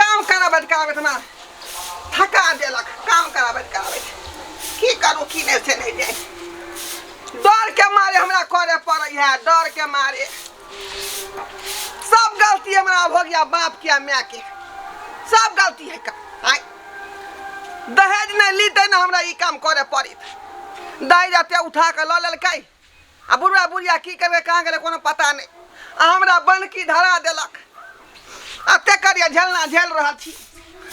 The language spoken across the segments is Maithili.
काम कराबैत कराबैत हमरा थका देलक काम कराबैत कराबैत की करू की नहि से नहि जाय डरके मारे हमरा करे पड़ै है डरके मारे सब गलती हमरा हो गया बाप के माय के सब गलती है का आय दहेज नहीं लीते ना हमरा ई काम करे पड़ित दहेज एते उठा के लऽ लेलकै आ बुढ़वा बुढ़िया की करबै कहाँ गेलै कोनो पता नहि आ हमरा बनकी धरा देलक आ तेकर ये झेलना झेल रहल छी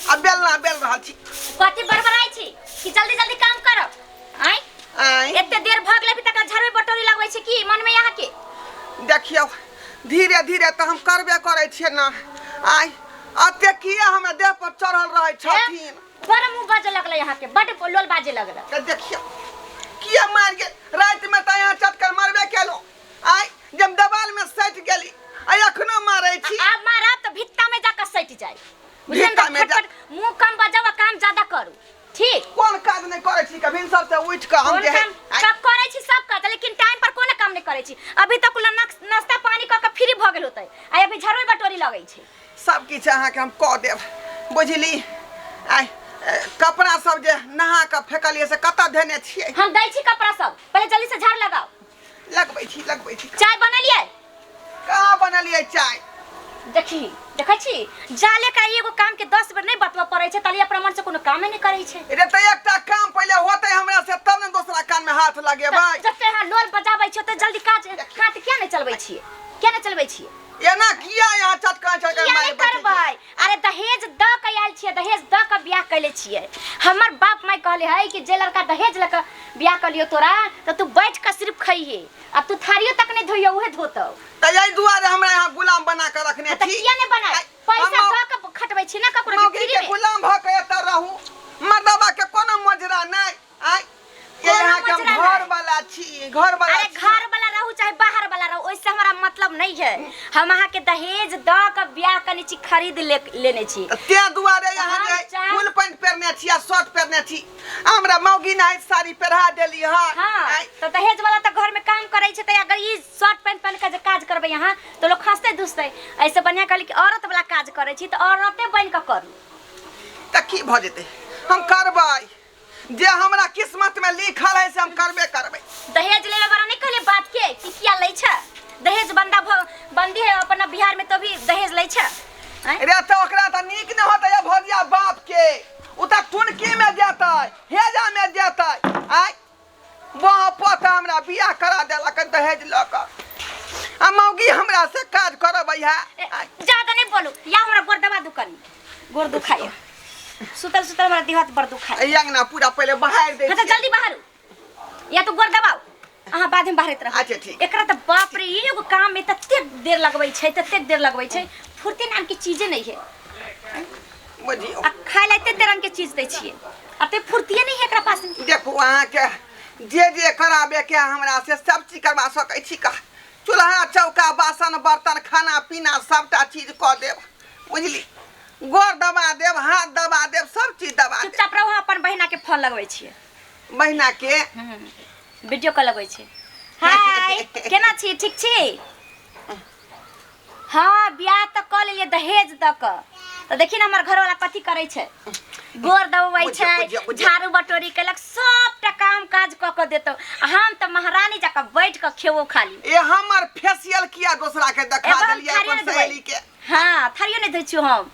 आ बेलना बेल रहल छी कथी बड़बड़ाइ छी कि जल्दी जल्दी काम करो आइ आँय एते देर भऽ गेलै अभी तक झरबे बटोरी लगबै छै की मन में यहाँ के देखियौ धीरे धीरे तऽ हम करबे करै छियै ने आइ अते किया हमरा देह पर चढ़ल रहै छथिन बड़ मुंह बाजे लगले यहाँ के बड़ लोल बाजे लगले के देखियो किया मार के रात में त यहाँ चक्कर मारबे केलो आय जब दबाल में सट गेली आय अखनो मारे छी आ मारा तो भित्ता में जाकर सट जाए बुझलियै भित्ता में जा- फटफट मुंह कम बजाओ आ काम ज्यादा करू ठीक कोन काज नहीं करे छी कभी सब से उठ के हम कोन जे है काम आय, सब करै छी सब काज लेकिन टाइम पर कोनो काम नहि करै छी अभी तक ल नाश्ता पानी क के फ्री भ गेल होतै आ अभी झड़बै बटोरी लगै छै सब किछु अहाँके हम कऽ देब बुझली आइ ए, कपड़ा सब जे नहा कऽ फेकलियै से कतऽ धेने छियै हम दै छी कपड़ा सब पहिले जल्दी से झाड़ लगाओ लगबै छी लगबै छी चाय बनलिए कहाँ बनलियै चाय देखी देखै छी जाले का एगो काम के दस बेर नहीं बतबऽ पड़ै छै ताली अपना मन से कोनो कामे नहीं करै छै रे तऽ एकटा काम पहिले होतै हमरा से तब ने दोसरा कान में हाथ लगेबै जते अहाँ लोल बजाबै छियै ओते जल्दी काज काट किया नहीं चलबै छियै किया नहीं चलबै छियै एना किया यहाँ चटकान चटकान किया मारे नहीं बैठे करबै छी? अरे दहेज द के आयल छियै दहेज द के बियाह कैले छियै हमर बाप माय कहले है कि जे लड़का दहेज लऽ के बियाह कलियो तोरा तऽ तू बैठ के सिर्फ खइहे आ तू थारियो तक नहीं धोइयो उहे धोतौ त यही दुआरे हमरा यहाँ गुलाम बना के रखने तऽ छी किया नहीं बनाय आइ- पैसा हम- द के खटबै छी ना ककरो मौगी के के फ्री में गुलाम भ के एतऽ रहू मर्दबा के कोनो मोजरा नहि आय के कोनो यहाँ के हम मचला घर नहीं। वाला छी घर वाला अरे छी। घर वाला रहू चाहे बाहर वाला रहू ओइसे हमरा मतलब नहीं है हम अहाँ के दहेज द के ब्याह कने छी खरीद ले, लेने छी त ते दुआरे यहाँ हम जे चाह- फुल पैंट पहनने छी आ शर्ट पहनने छी हमरा मौगी ना साड़ी पहरा देली हां हाँ तो दहेज वाला तो घर में काम करे छै त अगर ई शर्ट पैंट पहन के जे काज करबे यहाँ तो लोग हंसते दुसते ऐसे बढ़िया कहली कि औरत वाला काज करे छी तो औरते बन के करू त की भ जेते हम करबै जे हमरा किस्मत में लिखल है से हम करबे करबे दहेज लेवे वाला नहीं कहले बात के कि किया लै छ दहेज बंदा भ- बंदी है अपना बिहार में तो भी दहेज लै छ आँय? रे तो ओकरा त नीक न होतै अब भगिया बाप के उ त टुनकी में जेतै हेजा में जेतै आय बाह पोता हमरा बियाह करा देलक दहेज लऽ कऽ आ मौगी हमरा से काज करबै है ए, ज्यादा नहीं बोलू या हमरा गोर दबा दू कनी गोर दुखाई सुतल सुतल हमरा देह हाथ बड़ दुखाई एहि अंगना पूरा पहिले बहारि दे हाँ तो जल्दी बाहर हो। या तो गोर दबाओ अहाँ बाद में बाहर रहब अच्छा, ठीक। एकरा तो बाप रे ये एगो काम में तते देर लगबै छै तते देर लगबै छै फुर्ती नाम की चीजे नहीं है बजी आ खाए ला एते तरंग के चीज दै छियै अब ते फुर्तिये नहीं है एकरा पास में। देखू अहाँके जे जे कराबे के हमरा से सब चीज करवा सकै छी का चूल्हा चौका बासन बर्तन खाना पीना सबटा चीज कऽ देब बुझली गोर दबा देब हाथ दबा देब सब चीज दबा देब चुपचाप रहू अपन बहिना के फोन लगबै छियै बहिना के वीडियो कॉल लगबै छियै हाय केना छी ठीक छी हाँ ब्याह तो कर लेलिए दहेज द क तो देखी ना हमर घर वाला कथी करे छै गोर दबबै बुझियौ, छै बुझियौ, बुझियौ। झाड़ू बटोरी केलक सबटा काम काज क के देतो आ हम त महारानी जका बैठ के खेबो खाली ए हमर फेसियल किया दोसरा के देखा एगो हम देलियै थारी अपन ने धोबै। सहेली के हाँ थारियो नहीं धोई छियो हम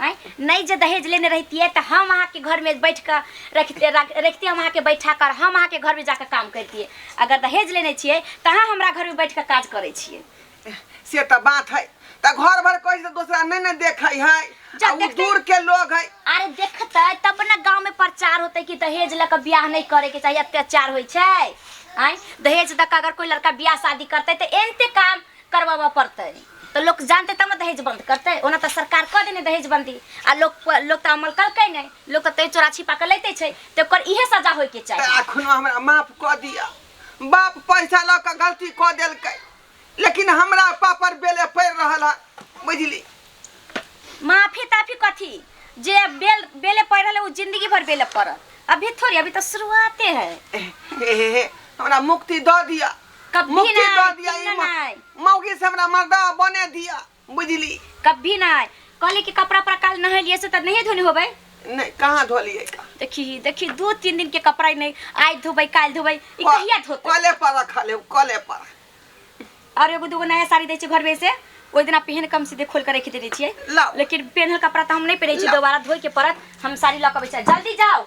आँय नहि जे दहेज लेने रहितियै तऽ हम अहाँके घरमे बैठ कऽ रखिते रख- रखिते हम अहाँके बैठा कर हम अहाँके घरमे जाकऽ काम करितियै अगर दहेज लेने छियै तऽ अहाँ हमरा घरमे बैठ कऽ काज करै छियै से तऽ बात है तऽ घर भर कोई से दूसरा नहीं ने देखे है जा आ उ देखते- दूर के लोग है अरे देखतै तब ने गाँवमे प्रचार होतै कि दहेज लऽ कऽ बियाह नहि करैके चाही अत्याचार होइ छै आँय दहेज दऽ कऽ अगर कोइ लड़का बियाह शादी करतै तऽ एनते काम करवाबऽ पड़तै तऽ लोक जानतै तब ने दहेज बन्द करतै ओना तऽ सरकार कऽ देने दहेज बन्दी आ लोक लोक तऽ अमल कलकै नहि लोक तऽ तैयो चोरा छिपा कऽ लैते छै तऽ ओकर इहे सजा होइके चाही एखनो हमरा माफ कऽ दिअ बाप पैसा लऽ कऽ गलती कऽ देलकै लेकिन हमरा पापर बेले पड़ि रहल है बुझली माफी ताफी कथी जे बेल बेले पड़ रहल है, वो जिंदगी भर बेले पड़त अभी थोड़ी अभी तो शुरुआते है हे, हे, हे, हमरा मुक्ति दऽ दिअ कभी मुक्ति नहीं, दऽ दिया ई सुनना नहीं। म- मौगी से हमरा मर्दा बने दिया बुझली कभी नहीं कहली कि कपड़ा पर काल नहाय लिए से त नहीं धोने होबै नहीं कहाँ धोलिए का देखी देखी दो तीन दिन के कपड़ा ही नहीं आज धोबै काल धोबै ई कहिया धोतै कले पर रखल है कले पर और एगो दूगो नया साड़ी दै छै घर में से ओहि दिना पहन कम सीधे खोल के रखि देने छियै लाओ। लेकिन पेन्हल कपड़ा तऽ हम नहि पहिरै छी लाओ। दोबारा धोइ के पड़त हम साड़ी लऽ कऽ अबै छी जल्दी जाओ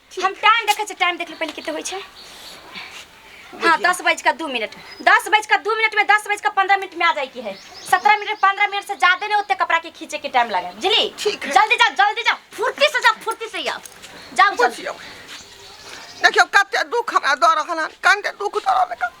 हम टाइम देखै छियै टाइम देखले पहिले कते होइ छै हाँ दस बज का दू मिनट दस बज का दू मिनट में दस बज का पंद्रह मिनट में आ जाए की है सत्रह मिनट पंद्रह मिनट से ज्यादा नहीं होते कपड़ा के खींचे के टाइम लगे बुझली ठीक है। जल्दी जाओ जल्दी जाओ फुर्ती से जाओ फुर्ती से जाओ जाओ जल्दी बुझियौ देखियौ कते दुख हमरा दऽ रहल हन कते दुख दऽ रहल हन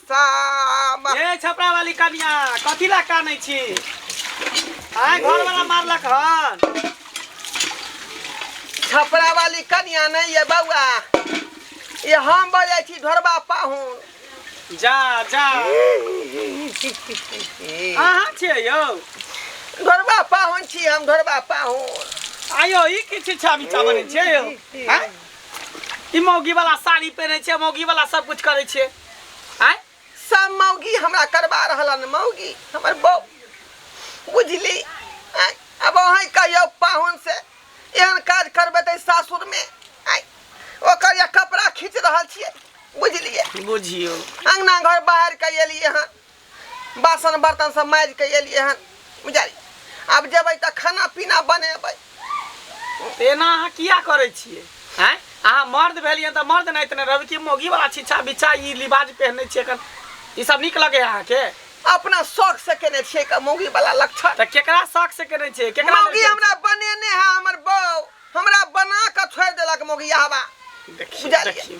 सामा ये छपरा वाली कनिया कथी ला कानै छी आय घर वाला मारलक हन छपरा वाली कनिया नहीं है बउआ ये हम बजे छी ढोरबा पाहुन जा जा अहाँ छियै यौ ढोरबा पाहुन छी हम ढोरबा पाहुन आयो ई की शिक्षा विचा बनै छै यौ आँय? ई मौगी वाला साड़ी पहिनै छै मौगी वाला सब कुछ करै छै आय सब मौगी हमरा करबा रहलन मौगी हमर बौ बुझली आय अब अहें कहियो पाहुन से एहन काज करबे ते सासुर में आय ओकर या कपड़ा खींच रहल छियै बुझलियै बुझियो अंगना घर बाहर के एलियै हन बासन बर्तन सब माजि के एलिए हन बुझाइ अब जेबै तऽ खाना पीना बनेबै तऽ एना अहाँ किया करै छियै आँय अहाँ मर्द भेलियै तऽ मर्द नहि तऽ नहि रहबै कि मौगीवला छिछा बिछा ई लिबाज पहिनै छियै एखन ई सब नीक लगैए अहाँके अपना शौक से केने छियै क- मौगी वाला लक्षण तऽ केकरा शौक से केने छियै केकरा मौगी लेल- हमरा बनेने है हमर बौ हमरा बना के छोड़ देलक मौगी हवा देखियौ बुझलियै। देखियौ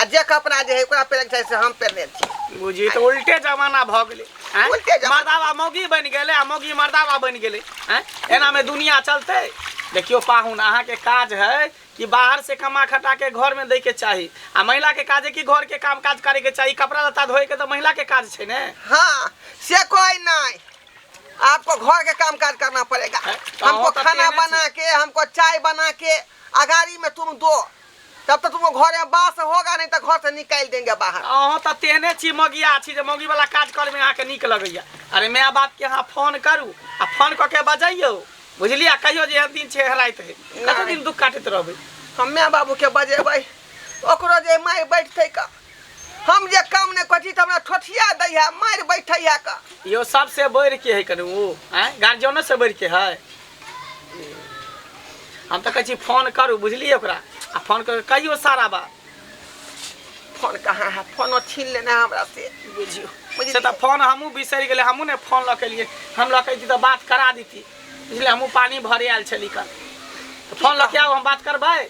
आ जे कपड़ा जे है ओकरा पहले के चाही से हम पहनने छी बुझी तो उल्टे जमाना भ गेले हैं? उल्टे जमाना। मर्दावा मौगी बन गेले आ मौगी मर्दावा बन गेले हैं? एना में दुनिया चलते देखियो पाहुन अहाँ के काज है कि बाहर से कमा खटा के घर में दै के चाही आ महिला के काज है कि घर के काम काज करे के चाही कपड़ा लत्ता धोए के तो महिला के काज छै ने हाँ से कोई नहीं आपको घर के काम काज करना पड़ेगा है, तो हमको हो तो खाना तेरे बना के हमको चाय बना के अगाड़ी में तुम दो तब तक तुमको घर में बास होगा नहीं तो घर से निकाल देंगे बाहर अहाँ तऽ तेहने छी मगिया छी जे मौगी वाला काज करमे अहाँके नीक लगैया अरे माय बाप के अहाँ फोन करू आ फोन कऽ के बजैयौ बुझलियै कहियो जे एहन दिन छै एहन राति है कते दिन दुख काटैत रहबै हम्मे बाबू के बजेबै ओकरो जे माय बैठतै का हम जे काम नहि करै छी तऽ हमरा ठोठिया दै है मारि बैठै है का यो सबसे बढ़ के है कनु उ हैं गार्जियनो से बढ़ के है हम तो कहै छी फोन करू बुझलिए ओकरा आ फोन करके कहियो सारा बात फोन कहाँ है फोनो छीन लेना है हमरा से बुझियो बुझलियै? से तऽ फोन हमहूँ बिसरि गेलै हमहूँ ने फोन लऽ के एलियै हम लऽ के अयती तऽ बात करा दीती बुझलियै हमहूँ पानि भरे आयल छली कन तऽ फोन लऽ के आउ हम बात करबै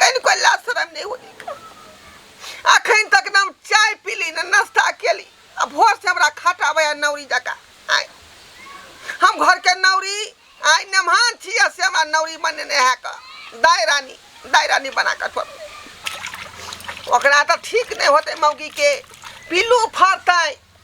कनि कोई लाज शरम नहीं होली का अखन तक ना हम चाय पीली ना नाश्ता केली आ भोर से हमरा खटाबै आ नौरी जका आय हम घर के नौरी आय नमहान छी आ से हमरा नौरी बने ने है का दाय रानी दाय रानी बना कर पर ओकरा तो ठीक नहीं होते मौगी के पिल्लू फरतै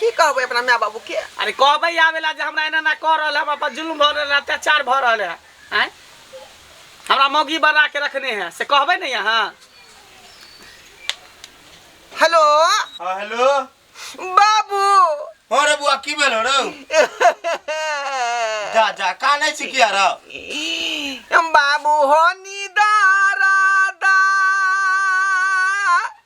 की कहबै अपना माय बाबूके अरे कहबै आवेला जे हमरा एना ना कह रहल है हमरा पर जुल्म भऽ रहल है अत्याचार भऽ रहल है आँय हमरा मौगी बना के रखने है से कहबै ने यहाँ हेलो हाँ हेलो बाबू हाँ रे बुआ की भेल रे जा जा का नहीं सिखिया रे बाबू हो निदारा दा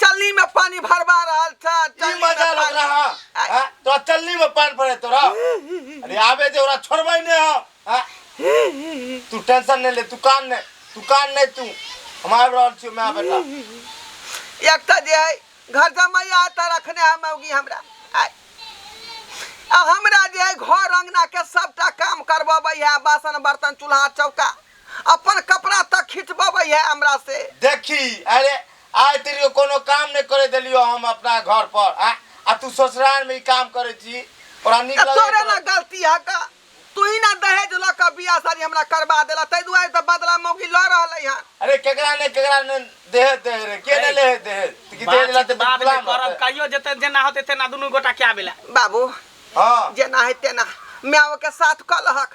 चलनी में पानी भरवा रहल था ई चलनी में मजा लग पानी- रहा आ- हाँ, तो चलनी में पान पड़े तोरा अरे आवे जे ओरा छोड़बै ने हो हाँ? तू टेंशन नहीं ले तू कान नहीं तू कान नहीं तू हम आबि रहल छियो माय बेटा एक तो जे है घर जमैया एतऽ रखने है मौगी हमरा आय। आ हमरा जे है घर अंगना के सबटा काम करबबै है बासन बर्तन चूल्हा चौका अपन कपड़ा तक खिचबबै है हमरा से। देखि अरे आइ तेरियो कोनो काम नै करै देलियो हम अपना घर पर आँ आ तू ससुरार में ई काम करै छी तोरा नीक तऽ लगै तोरे ने करत। गलती हक। तूही ने दहेज लऽ कऽ बियाह शादी हमरा करबा देलह तै दुआरे तऽ बदला मौगी लऽ रहलै हन। अरे केकरा नै केकरा नै देहेज दै है रे के नै लै है देहेज तऽ की देहेज बातचीत लेतै तऽ बाद में गुलाम करब रहतै। कहियो जेतै जेना होतै तेना दुनू गोटा कए बेला। बाबू हँ जेना है तेना मायो के साथ कलहक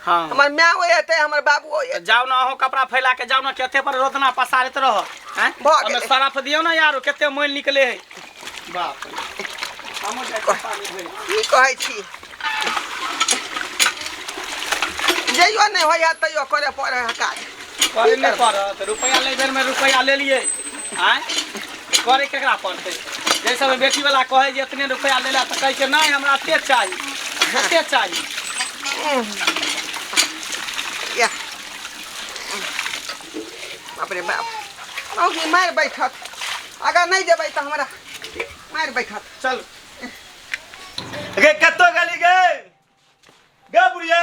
हाँ हमर माय हो एते हमर बाबू हो एते जाओ ना अहो कपड़ा फैला के जाओ ना केते पर रोदना पसारत रह हैं भऽ ओमे गेलै। सरफ दियो ना यारो केते मोल निकले है बाप रे। हमहूँ जाइ छी पानी भरि। की कहै छी जइयो नहि होइए तैयो करे पड़े है काज करे नहि पड़त रुपैआ लै बेरमे रुपैआ लेलियै आँय करे केकरा पड़तै जै समय बेटीवला कहै जे एतने रुपैआ लै लए तऽ कहै छै नहि हमरा एतेक चाही एतेक चाही या बाप रे बाप मौगी मारि बैठत अगर नहि जेबै तऽ हमरा मारि बैठत चल गे कतौ गेली गे गे बुढ़िया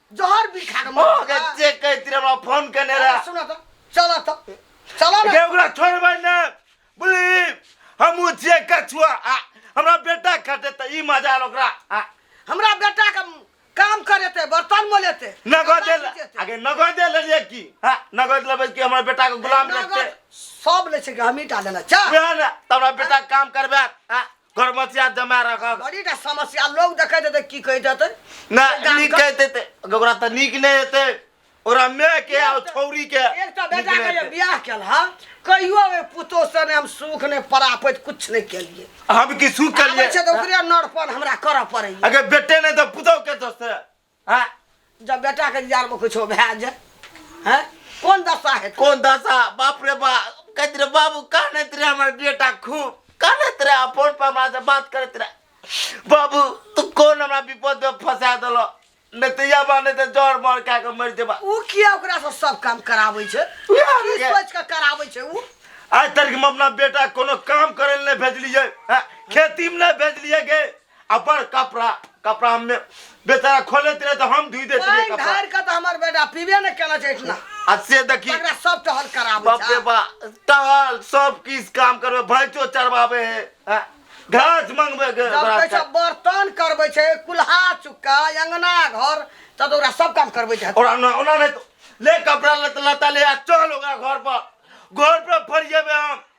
जहर भी खा के मर ओके जाएगा। चेक कर तेरे हमरा फोन करने रहा सुना तो चला तो चला ना के ओकरा छोड़ भाई ना बोली हम उ चेक कर छुआ आ, हमरा बेटा खटे त ई मजा आल ओकरा आ, हमरा बेटा के काम करे थे बर्तन मोले थे नगद दे आगे नगद दे ले की हां नगद लेबे की हमरा बेटा के गुलाम रखते सब ले छे हमी डाले ना चा उहे ना त हमरा बेटा काम करबे आ करमसिया जमा रखक बड़ी टा समस्या लोग देखे देते की कह देते ना गाम नीक का- कह देते ओकरा तऽ नीक नहि हेतै ओकरा माय के आ छौरी के एक तो नीक बेटा नहि के जे हेतै। बियाह केल हा कहियो ओहि पुतोह से ने हम सुख ने परापैत कुछ नहि केलिए हम की सुख आबै छै तऽ केलियै ओकरे नरपन हमरा करऽ पड़ैए अगर बेटे नहि तऽ पुतहु के दोस्त है हैं जब बेटा के जियार में कुछो भए जाए हैं कौन दशा है कौन दशा बाप रे बा कहते रहे बाबू कानत रहे हमारे बेटा खूब कानत रहे फोन पर हमारे से बात करत रहे बाबू तू कौन हमारा विपद में फंसा दिलो नहीं तो या बा नहीं तो जड़ मर खा के मर जेबा ऊ किया ओकरा से सब काम कराबै छै उएह की के- सोच के कराबै छै ऊ आज तक हम अपना बेटा कोनो काम करे ले नहीं भेजलिए हैं? खेती में नहीं भेजलिए गे अपन कपड़ा कपड़ा में बेचारा खोले रहे तो हम धुई देते रहे कपड़ा धर के तो हमर बेटा पीबे न केला छै इतना आ से देखी एकरा सब टहल कराबे बाप रे बा टहल सब किस काम करबे भैंसो चरवाबे है हाँ? घास मंगबे के जब कहै छै बर्तन करबै छै कुल्हा चुक्का अंगना घर त तो ओकरा सब काम करबै छै ओरा ना ओना नहीं तो ले कपड़ा लत लता ले आ चल ओकरा घर पर घर पर फरिएबे हम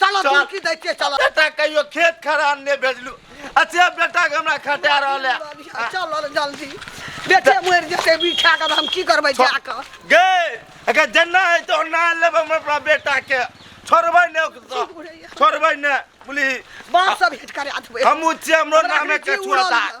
चलो चल। चुटकी दै छियै चलो बेटा कहियो खेत खरान नहि भेजलू अच्छे बेटा के हमरा खटा रहल है चल जल्दी बेटे मरि जेतै बिछा कऽ हम की करबै जा कऽ गए अगर जन्ना है तो ना लेब हम अपना बेटा के छोड़बै ने ओकरा। छोड़बै ने बोली बाप सब हिट करा देबै हमू छियै हमरो हमरा नामे के के जीव उड़ल छुआता यऽ।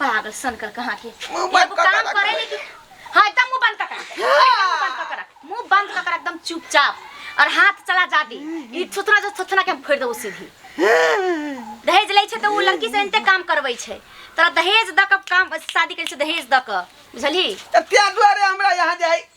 पागल सनकर कहाँ के मुंह बंद एगो कऽ के काम रख। करे ले कि हां एकदम मुंह बंद ककरा मुंह बंद ककरा मुंह बंद ककरा एकदम चुपचाप और हाथ चला जा दी ई थुथना जो थुथना के हम फोड़ देबो सीधी दहेज लै छै तऽ ओ लड़की से एनते काम करबै छै तोरा दहेज दऽ कऽ काम शादी करै छै दहेज दऽ कऽ बुझलही तऽ त्या दुआरे हमरा यहाँ जाइ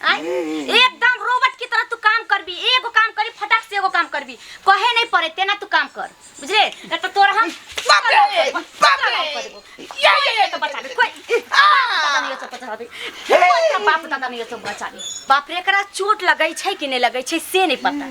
आय? एकदम रोबोट की तरह तू काम करबी एगो काम करी फटाक से एगो काम करबी कहे नहीं पड़े तेना तू काम कर बुझले ए तो तोरा हम बाप रे, बाप रे। या या या तो बचा दे कोई दादा नहीं सब बचा दे कोई तेरा बाप दादा नहीं सब बचा दे बाप रे एकरा चोट लगै छै कि नहीं लगै छै से नहीं पता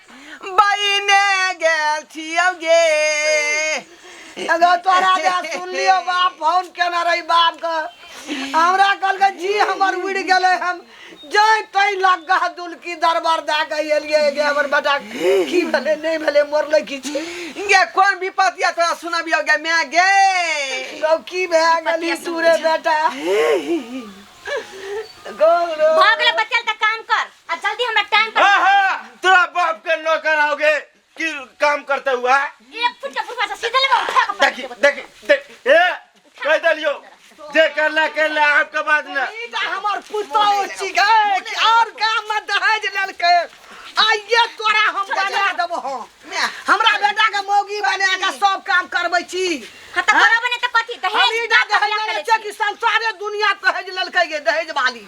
बहिने गेल छियौ गे एगो तोरा जे सुनलियो बाप फोन केना रही बाप के हमरा कहलकै जी हमर उड़ि गेलै हम जाय तई लग्गा दुलकी दरबार दए के एलियै गे हमर बेटा की भेलै नहि भेलै मरलै की छै गे कोन विपत या तोरा सुनबियो गे माय गे गौ की भए गेली तू रे बेटा गौ रो भऽ गेलै बचल तऽ काम कर आ जल्दी हमरा टाइम पर हाँ हाँ तोरा बाप के नौकर आओगे कि काम करते हुआ है एक फुट के बुढ़वा से सीधे लेबा उठा के देखी देखी देख ए कह दलियो जे करला करला आपके बाद में ई त हमर पुतो छी गए कि और गाम में दहेज लेलकै आइए तोरा हम बना देबो हम हमरा बेटा के मौगी बना के सब काम करबै छी हां त करब ने त कथी हम दहेज ई दहेज लेलकै कि संसारे दुनिया दहेज लेलकै ये दहेज वाली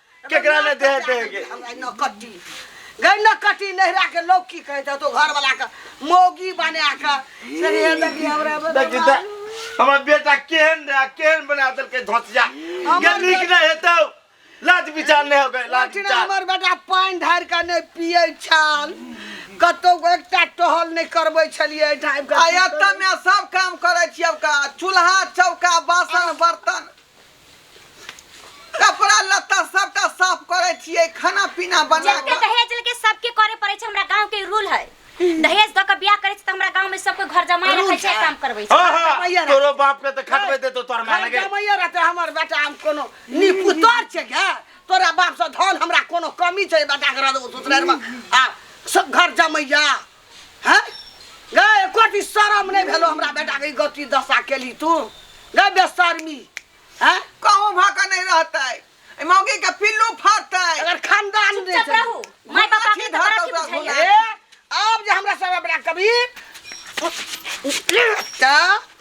केकरा ले दे देगे नकटी गई नकटी नहरा के लोग की कहे तो घर वाला का मोगी बने आका सर ये लगी हमरा देखी त हमर बेटा केहन रहा केहन बना दल के धोतिया के नीक ना हेतौ लाज विचार नहीं हो गए लाज लठना विचार हमर बेटा पानि ढारि के नहि पियै छल कतौ एकटा टहल नहि करबै छलियै ढाबि के आयत में सब काम करे छी अब का चूल्हा चौका बासन बर्तन कपड़ा लत्ता सबटा साफ करे छिए खाना पीना बना जते के दहेज लेके सबके करे पड़े छै हमरा गांव के रूल है दहेज द के बियाह करे छै त हमरा गांव में सबके घर जमाए रखे छै काम करबै छै हाँ हाँ भैया रे। तोरो बाप के तो खटबे दे तो तोर माने हम के जमैया रहते हमर बेटा हम कोनो निपुतर छै गे तोरा बाप से धन हमरा कोनो कमी छै बेटा के रहते ससुरार में आ सब घर जमैया है गए कोटी शरम नहीं भेलो हमरा बेटा के गति दशा केली तू गए बेशर्मी है कहूँ भऽ कऽ नहि रहतै एहि मौगी के पिल्लू फरतै अगर खानदान नहीं चुप रहू चली माय बाप आके माछी तो बड़ा धऽ की कऽ बुझाइए ए, अब जे हमरा सब बेटा कभी का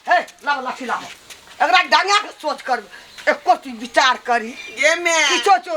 हे लाओ लाठी लाओ एकरा डांगा के सोच कर एक कोटी विचार करी ये मे किछो छो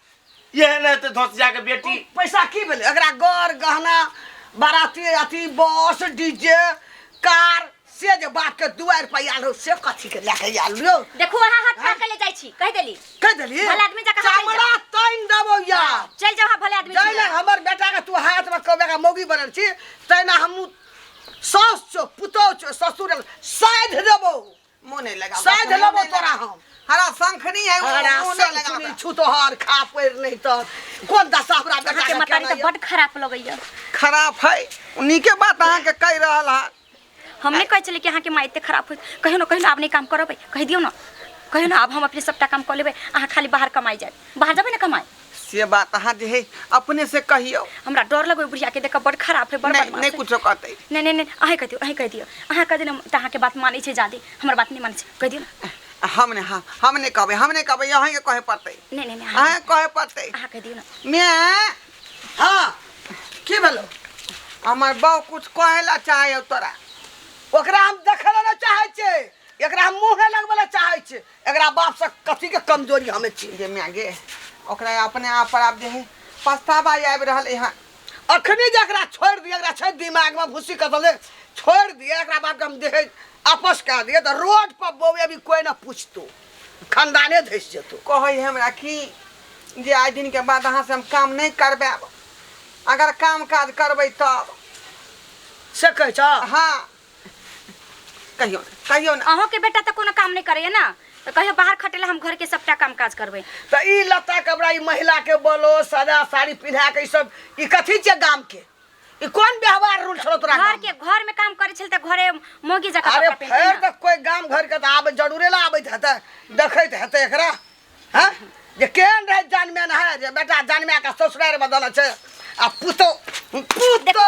इहे ने हेतै धोसिया के बेटी पैसा की भेलै एकरा गर गहना बाराती अथी बस डीजे कार से जे बाप के दुआर पर आयल हो से कथी के लए के आयल हो देखू अहाँ हाथ फाड़ के ले जाइ छी कहि देली कह देलिए भला आदमी जकाँ हाथ चमड़ा ताइन देबो या चल जाओ अहाँ भले आदमी छी। जैना हमर बेटा के तू हाथ में कबे का मौगी बनल छी तैना हमू सास छो पुतौ छो ससुर साइध देबो मुंह नहीं लगा साइड लेबो तोरा हम हरा शंखनी है वो हरा मुंह नहीं लगा शंखनी छु तोहर खा पड़ नहीं तो कोन दशा हमरा बेटा के मतारी तो बड खराब लगैया खराब है उन्हीं के बात अहाँ के कह रहल है हम नहीं कह चले कि अहाँ के माइते खराब हो कहियो ना कहियो ना आप नहीं काम करबै कह दियो ना कहियो ना अब हम अपने सबटा काम कर लेबै अहाँ खाली बाहर कमाई जाए बाहर जाबे ना कमाए से बात अहाँ जे है अपने से कहियो हमरा डर लगो बुढ़िया के देख बड़ खराब है बड़ नहीं बदमाश नहीं है। कुछो कहते नहीं नहीं नहीं अहे कह दियो अहे कह दियो अहाँ कह देना त अहाँ के बात मानै छै जादे हमर बात नहीं मानै छै कह दियो ना हमने हाँ हमने कहबे हमने कहबे अहाँ के कहे पड़ते नहीं नहीं नहीं अहाँ अहाँ कहे पड़ते अहाँ कह दियो ना मैं हाँ की भेलो हमर बाऊ कुछ कहे ला चाहे तोरा ओकरा हम देखे ला ना चाहे छे एकरा हम मुंह लगबे ला चाहे छे एकरा बाप से कथी के कमजोरी हमें चीन दे में गे ओकरा अपने आप पर आप जे है पछतावा आब रहल है अखनी जे एकरा छोड़ दिए एकरा छै दिमाग में भूसी कसले छोड़ दिए एकरा बाप के हम देखे आपस कर दिए तो रोड पर बउए अभी कोई ना पूछतो खानदाने धस जेतो कहै है हमरा कि जे आइ दिन के बाद अहाँ से हम काम नहीं करबे अगर काम काज करबै तब से कह छ हाँ कहियो ना कहियो ना अहों के बेटा तो कोनो काम नहीं करे ना तो कहियो बाहर खटेला हम घर के सबटा काम काज करबे त ई लत्ता कपड़ा ई महिला के बोलो सदा साड़ी पिन्हा के ई सब ई कथी छै गाम के ई कोन व्यवहार रूल छलो तोरा घर गाम के घर में काम करे छल त घरे मोगी जका अरे कपड़ा फेर पहनते तक कोई गाम घर के त आबे जरूरे ला आबैत हेतै देखैत हेतै एकरा हैं जे केहन रहै जानमे न है जे बेटा जानमे के ससुरार बदल छै आ पुतो पुतो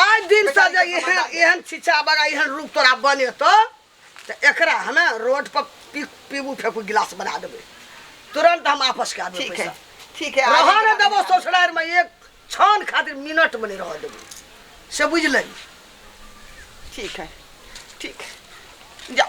आइ दिन से जे एहन एहन छिछा बगा एहन रूप तोरा बने तो तो एकरा हमे रोड पर पी पीबू फेंकू गिलास बना देबे तुरंत हम आपस के आदमी ठीक है ठीक है रह न देबो ससुरार में एक क्षण खातिर मिनट में नहीं रह देबो से बुझ लही ठीक है ठीक है जाओ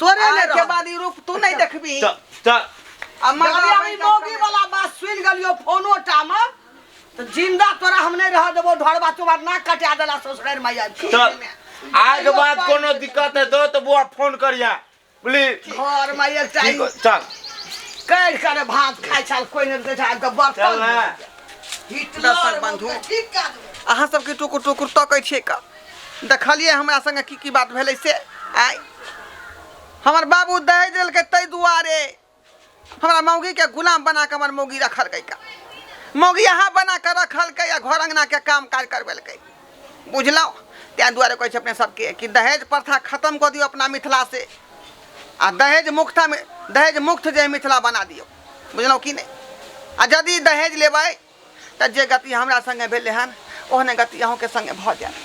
तोरे आज ले के रहल। बाद ई रूप तू नहीं देखबी त त आ मगर मगर अभी बैठल मौगी समय- वाला बात सुन गलियो फोनो टाम तो जिंदा तोरा हम नहीं रह देबो ढोरबा तुम्हार ना कटा देला ससुराल में आज के। त आज के बाद कोनो दिक्कत है दो तो बुआ फोन करिया प्लीज घर में ये ठीक चाहिए हो, चल कैर करे भात खाय छाल कोई नहीं दे छाल तो चल बर्तन ना हिटलर बंधु। बंधु ठीक कर अहाँ सबके टुकुर टुकुर तकै छियै का देखलियै हमरा संगे की की बात भेलै से आइ हमर बाबू दहेज देलकै ताहि दुआरे हमरा मौगीके गुलाम बना कऽ हमर मौगी रखलकै का मौगी अहाँ बना कऽ रखलकै आ घर अङ्गनाके काम काज करबेलकै बुझलहुँ ताहि दुआरे कहै छै अपने सबके कि दहेज प्रथा खतम कऽ दियौ अपना मिथिला से आ दहेज मुक्ता दहेज मुक्त जे मिथिला बना दियौ बुझलहुँ कि नहि आ यदि दहेज लेबै तऽ जे गति हमरा सङ्गे भेलै हन ओहने गति अहूँके सङ्गे भऽ जायत